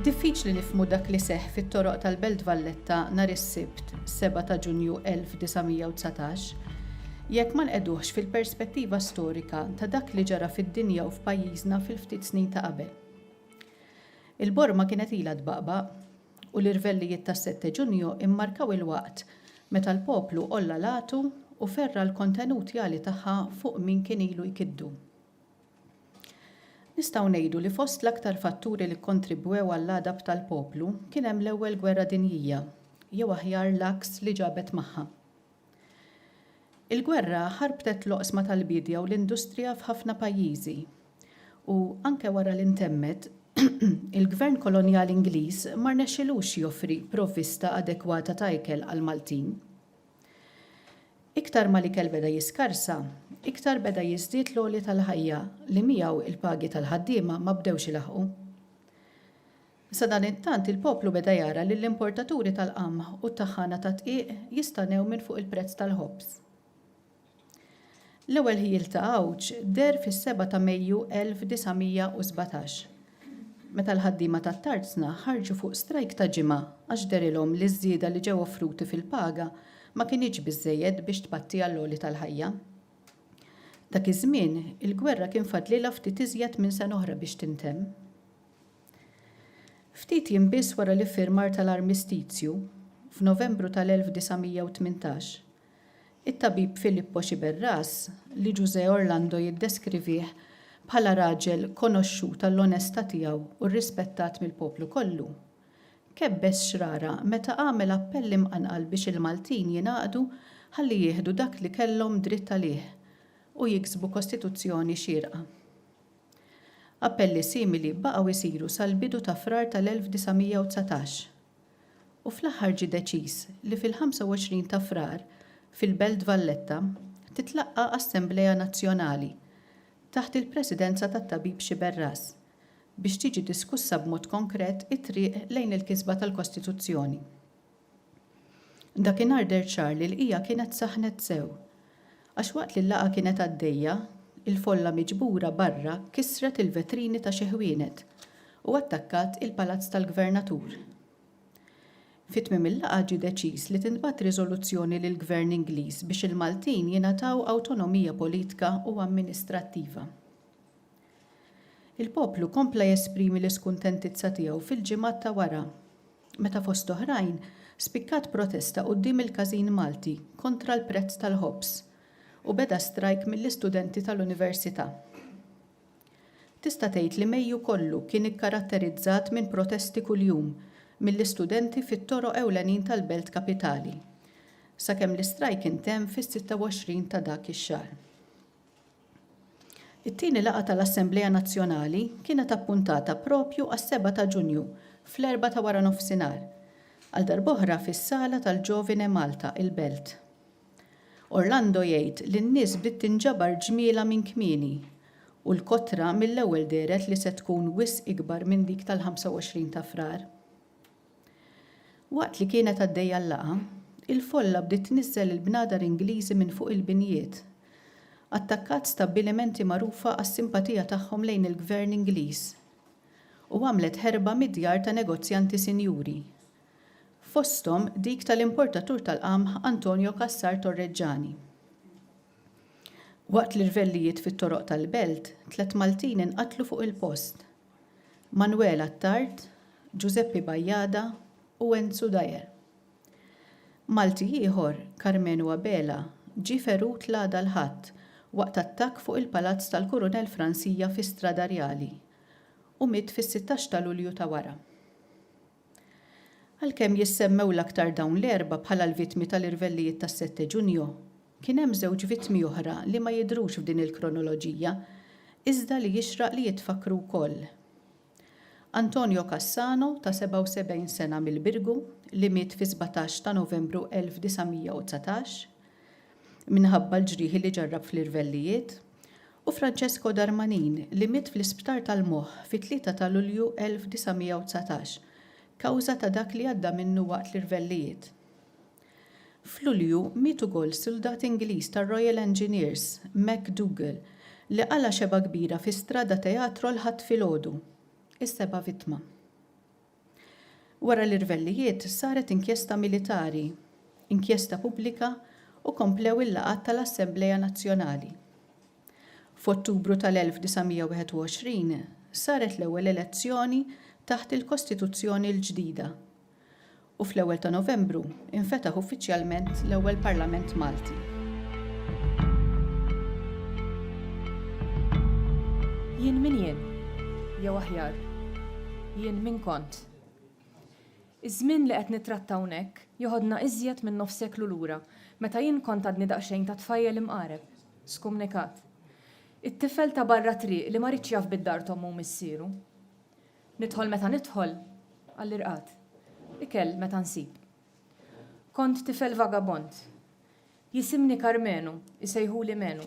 Diffiċli nifhmu dak li seħħ fit-toroq tal-Belt Valletta nhar is-Sibt, 7 ta' Ġunju 1919, jekk ma nqegħduhx fil-perspettiva storika ta' dak li ġara fid-dinja u f'pajjiżna fil-ftit snin ta' qabel. Il-borma kienet ilha tbaqbaq. u l-irvellijiet tas-sette Ġunju mmarkaw il-waqt meta l-poplu għolla l-għatu u ferra' l-kontenut jali tagħha fuq min kien ilu jkiddu. Nistgħu ngħidu li fost l-aktar fatturi li kkontribwew għall-għadab tal-poplu kien hemm l-Ewwel Gwerra Dinjija, jew aħjar l-għaks li ġabet magħha. Il-gwerra ħarbtet l-oqsma tal-biedja u l-industrija f'ħafna pajjiżi. U, anke wara li ntemmet, il-gvern kolonjali Ingliż ma rnexxilux joffri provvista adekwata ta' ikel għall-Maltin. Iktar ma l-ikel beda jiskarsa, iktar beda jiżdied l-għoli tal-ħajja li miegħu l-pagi tal-ħaddiema ma bdewx ilaħħqu. Sadanittant il-poplu beda jara lill-importaturi tal-qamħ u t-taħħana tad-dqiq jistanew minn fuq il-prezz tal-ħobż. L-ewwel ħjiel ta' għawġ deher fis-seba' ta' Mejju 1917, meta l-ħaddiema tat-Tarzna ħarġu fuq strajk ta' ġimgħa għax dehrilhom li ż-żieda li ġew offruti fil-paga ma kinitx biżżejjed biex tpatti għall-għoli tal-ħajja. Dak iż-żmien, il-gwerra kien fadlilha ftit iżjed minn sena oħra biex tintemm. Ftit jiem biss wara l-iffirmar tal-armistizju, f'Novembru tal-1918, it-tabib Filippo Sciberras, li Ġużè Orlando jiddeskrivih bħala raġel konoxxut għall-onestà tiegħu u rrispettat mill-poplu kollu, kebbeż xrara meta għamel appell imqanqal biex il-Maltin jingħaqdu ħalli jieħdu dak li kellhom dritt għalih u jiksbu kostituzzjoni xierqa. Appelli simili baqgħu jsiru sal-bidu ta' Frar tal-1919 u fl-aħħar ġie deċiż li fil-25 ta' Frar fil-Belt Valletta titlaqqa' Assemblea Nazzjonali taħt il-presidenza tat-Tabib Sciberras biex tiġi diskussa b'mod konkret it-triq lejn il-kisba tal-Kostituzzjoni. Dakinhar deher ċar li l-qigħa kienet saħnet sew. Għax waqt li l-laqgħa kienet għaddejja, il-folla miġbura barra kissret il-vetrini ta' xi ħwienet u attakkat il-Palazz tal-Gvernatur. Fi tmiem il-laqgħa ġie deċiż li tintbagħat riżoluzzjoni lill-Gvern Ingliż biex il-Maltin jingħataw awtonomija politka u amministrattiva. Il-poplu kompla jesprimi l-iskuntentizza tiegħu fil-ġimgħat ta' wara. meta fost oħrajn spikkat protesta quddiem il-każin Malti kontra l-prezz tal-ħobż u beda strajk mill-istudenti tal-Università. Tista' tgħid li Mejju kollu kien ikkaratterizzat minn protesti kuljum mill-istudenti fit-toroq ewlenin tal-belt kapitali, sakemm l-istrajk intemm fis-26 ta' dak ix-xahar. It-tieni laqgħa tal-Assemblea Nazzjonali kienet appuntata propju għas-seba' ta' Ġunju fl-erbgħa ta' waranofsinhar, għal darb'oħra fis-sala tal-Giovine Malta, il-Belt. Orlando jgħid li n-nies bdiet tinġabar ġmielha minn kmieni u l-kotra mill-ewwel dehret li se tkun wisq ikbar minn dik tal-25 ta' Frar. Waqt li kienet għaddejja l-laqgħa, il-folla bdiet tniżżel il-bnadar Ingliżi minn fuq il-binjiet. Attakkat stabbilimenti magħrufa għas-simpatija tagħhom lejn il-Gvern Ingliż u għamlet ħerba mid-djar ta' negozjanti sinjuri, fosthom dik tal-importatur tal-qamħ Antonio Cassar Torreġġani. Waqt l-irvellijiet fit-toroq tal-belt, tliet Maltin inqatlu fuq il-post. Manuel Attard, Ġużeppi Bajada u Enzu Dyer. Malti ieħor, Karmenu Abela, ġie ferut l-għada l-Ħadd waqt attakk fuq il-Palazz tal-Kurunell Fransija fi Strada Rjali u miet fis-sittax ta' Lulju ta' wara. Għalkemm jissemmew l-aktar dawn l-erbgħa bħala l-vittmi tal-irvellijiet tas-Sette Ġunju, kien hemm żewġ vittmi oħra li ma jidhrux f'din il-kronoloġija iżda li jixraq li jitfakkru wkoll. Antonio Cassano ta' 77 sena mill-Birgu li miet fis-17 ta' Novembru 1919 minħabba l-ġrieħi li ġarrab fl-irvellijiet u Francesco Darmanin li miet fl-Isptar tal-Moħħ fit-Tlieta ta' Lulju 1919 kawża ta' dak li għadda minnu waqt l-irvellijiet. F'Lulju miet ukoll suldat Ingliż tar-Royal Engineers, MacDougall, li qala' xebgħa kbira fi Strada Teatro l-Ħadd filgħodu. Is-seba' vittma. Wara l-irvellijiet saret inkjesta militari, inkjesta pubblika u komplew il-laqgħat tal-Assemblea Nazzjonali. F'Ottubru tal-1921 saret l-ewwel elezzjoni taħt il-Kostituzzjoni l-ġdida u fl-ewwel ta' Novembru, Infetaħ uffiċjalment l-ewwel Parlament Malti. Jien min jien? Jew aħjar, jien min kont? Iż-żmien li qed nittratta hawnhekk joħodna iżjed minn nofs seklu lura, meta jien kont għadni daqsxejn ta' tfajjel imqareb, skumnikat. It-tifel ta' barra t-triq li ma riedx jaf bid-dar t'ommu u missieru. Nidħol meta nidħol għall-irqad. Ikel meta nsib. Kont tifel vagabond. Jisimni Karmenu, isejħuli Menu.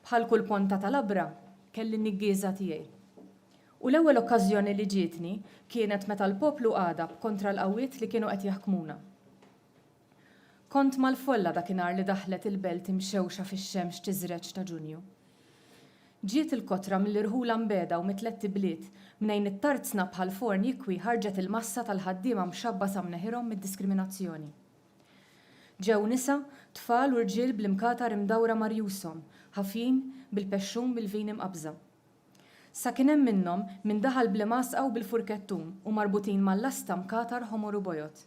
Bħal kull ponta ta' labra, kelli n-niggieża tiegħi. U l-ewwel okkażjoni li ġietni kienet meta l-poplu għadab kontra l-qawwiet li kienu qed jaħkmuna. Kont mal-folla dakinhar li daħlet il-belt imxewxa fix-xemx tiżreġ ta' Ġunju. Ġiet il-kotra mill-irħula mbegħda u mit-tlett ibliet, mnejn it-tarzna bħal forn jikwi ħarġet il-massa tal-ħaddiema mxabba sa mneħirhom mid-diskriminazzjoni. Ġew nisa, tfal u rġiel bl-imkatar imdawra ma' rjushom, ħafjin, bil-pexxun bil-vin imqabbża. Sa kien hemm minnhom min daħal bl-imgħasqa u bil-furkettun u marbutin mal-lasta mkatar ħomor u bojod.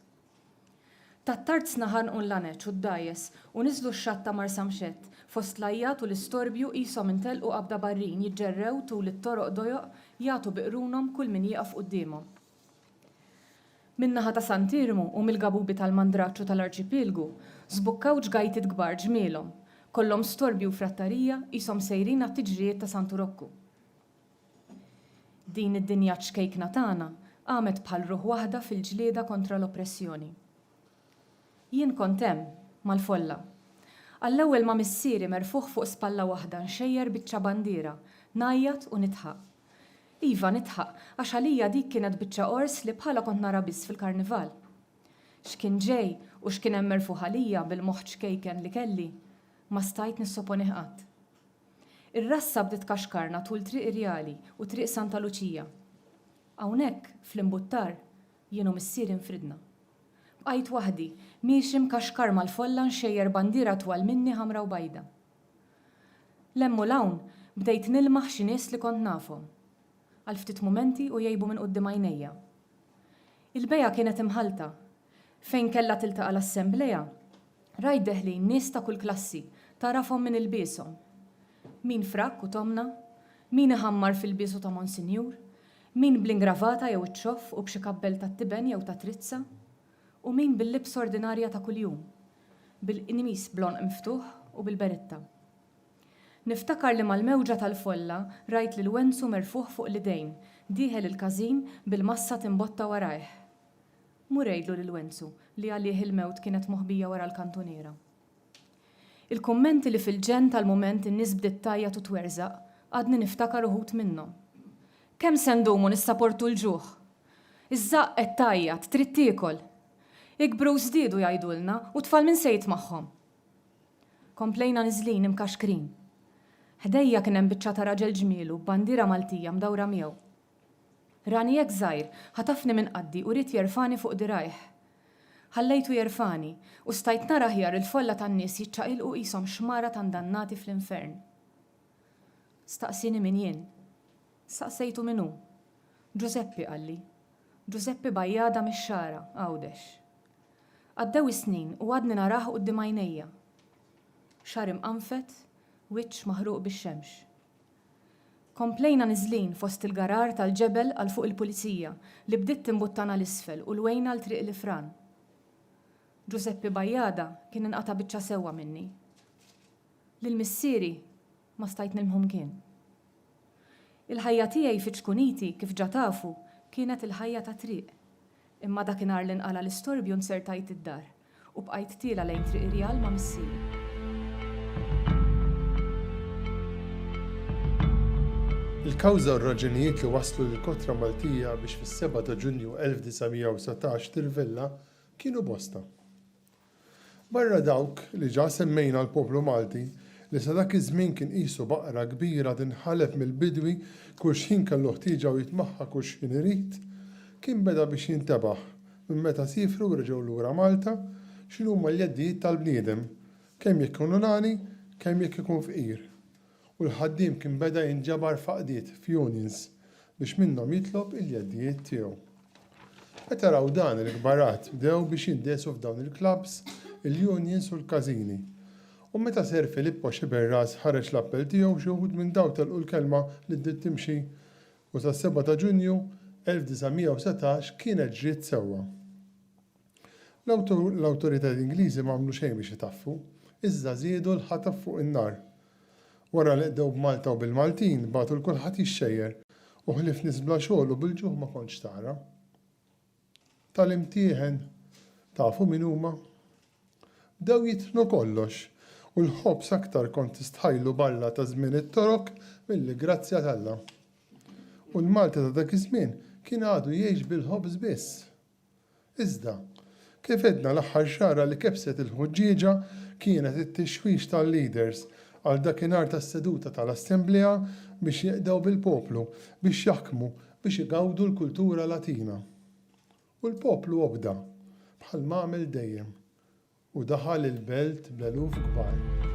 Tat-Tarzna ħanqu l-Laneċ u d-Dgħajjes u niżlu x-xatt ta' Marsamxett. Fost l-għajjat u l-istorbju qishom intelqu qabda barrin jiġġerrew tul it-toroq dojoq jagħtu bi qrunhom kull min jieqaf quddiemhom. Min-naħa ta' Sant'Iermu u mill-gabubi tal-Mandraċċ u tal-Arċipielgu żbukkaw ġgajtiet kbar ġmielhom. Kollhom storbju u frattarija qishom sejrin għat-tiġrijiet ta' Santu Rokku. Din id-dinja ċkejkna tagħna qamet bħal ruħ waħda fil-ġlieda kontra l-oppressjoni. Jien kont hemm, mal-folla. Għall-ewwel ma' missieri merfugħ fuq spalla waħda nxejjer biċċa bandiera, ngħajjat u nidħaq. Iva, nidħaq, għax għalija dik kienet biċċa qors li bħalha kont nara biss fil-Karnival. X'kien ġej u x'kien hemm merfugħ għalija bil-moħħ ċkejken li kelli, ma stajt nissoponih qatt. Ir-rassa bdiet kaxkarna tul Triq Irjali u Triq Santa Luċija. Hawnhekk, fl-imbuttar, jien u missieri nfridna. Bqajt waħdi, miexi mkaxkar mal-folla nxejjer bandiera twal minni ħamra u bajda. 'l hemm u 'l hawn bdejt nilmaħ xi nies li kont nafhom. Għal ftit mumenti u jgħibu minn quddiem għajnejja. Il-bejgħa kienet imħallta, Fejn kellha tiltaqa' l-assemblea, rajt deħlin nies ta' kull klassi, tagħrafhom minn ilbieshom. Min frakk u tomna, min iħammar f'ilbiesu ta' monsinjur, min bl-ingravata jew iċ-ċoff u b'xi kappell tat-tiben jew ta' trizza, u min bil-libsa ordinarja ta' kuljum, bil-qnimis bl-għonq miftuħ u bil-beritta. Niftakar li mal-mewġa tal-folla rajt lil Wenzu merfugħ fuq l-idejn, dieħel il-każin bil-massa timbotta warajh. Mur għidlu lil Wenzu li għalih il-mewt kienet moħbija wara l-kantuniera. Il-kummenti li fil-ġenn tal-mument in-nies bdiet tgħajjat u twerżaq, għadni niftakar uħud minnhom. Kemm se ndumu nissaportu l-ġuħ? Iż-żaqq qed tgħajjat, trid tiekol! Ikbru u żdiedu jgħidulna, u t-tfal min se jitmagħhom? Komplejna niżlin imkaxkrin. Ħdejja kien hemm biċċa ta' raġel ġmielu b'bandiera Maltija mdawra miegħu. Rani hekk żgħir, ħatafni minn qaddhi u ried jerfagħni fuq dirgħajh. Ħallejtu jerfagħni, u stajt nara aħjar il-folla tan-nies jiċċaqilqu qishom xmara ta' ndannati fl-infern. Staqsieni min jien. Staqsejtu min hu. Ġużeppi, qalli. Ġużeppi Bajjada mix-Xagħra, Għawdex. Għaddew is-snin u għadni narah quddiem għajnejja. Xagħar imqanfet, wiċċ maħruq bix-xemx. Komplejna niżlin fost il-gharar tal-ġebel għal fuq il-Pulizija li bdiet timbuttana 'l isfel u lwejna għal Triq l-Ifran. Ġużeppi Bajada kien inqata' biċċa sewwa minni. Lil missieri ma stajt nilmħu mkien. Il-ħajja tiegħi fiċ-Ċkuniti, kif ġa tafu, kienet il-ħajja tat-triq. Imma dakinhar li nqala' l-istorbju nzertajt id-dar. U bqajt tiela' lejn Triq Irjal ma' missieri. Il-kawża u r-raġunijiet li wasslu lill-Kotra Maltija biex fis-seba' ta' Ġunju 1919 tirvella kienu bosta. Barra dawk li ġa semmejna l-poplu Malti, li sa dak iż-żmien kien qisu baqra kbira tinħaleb mill-bidwi kull x'ħin kellu ħtieġa u jitmaħħa kull x'ħin irid, kien beda biex jintebaħ Minn meta siefru u reġgħu lura Malta, x'inhuma l-jeddijiet tal-bniedem, kemm jekk ikun unani, kemm jekk ikun fqir. U l-ħaddiem kien beda jinġabar f'għaqdiet, f'unions, biex minnhom jitlob il-jeddijiet tiegħu. Meta raw dan, il-kbarat bdew biex jindesu f'dawn il-klabbs, il-unions u l-każini. U meta Ser Filippo Sciberras ħareġ l-appell tiegħu, xi wħud minn dawn telqu l-kelma li bdiet timxi u tas-seba' ta' Ġunju 1917 kienet ġriet sewwa. L-awtoritajiet Ingliżi m'għamlu xejn biex itaffu, iżda żiedu l-ħatab fuq in-nar. Wara li qdew b'Malta u bil-Maltin, bagħtu 'l kulħadd jixxejjer, u ħlief nies bla xogħol u bil-ġuħ ma kontx tara. tal-imtieħen, tafu min huma? Bdew jitħnu kollox u l-ħobż aktar kont tistħajlu balla ta' żmien it-Torok milli grazzja t'Alla. U l-Malti ta' dak iż-żmien kien għadu jgħix bil-ħobż biss. Iżda, kif għedna l-aħħar xagħra li kebset il-ħuġġieġa kienet it-tixwix tal-leaders għal dakinhar tas-seduta tal-Assemblea biex jeqdew bil-poplu biex jaħkmu biex igawdu l-kultura Latina. U l-poplu obda, bħal m'għamel dejjem, u daħal il-belt bl-eluf kbar.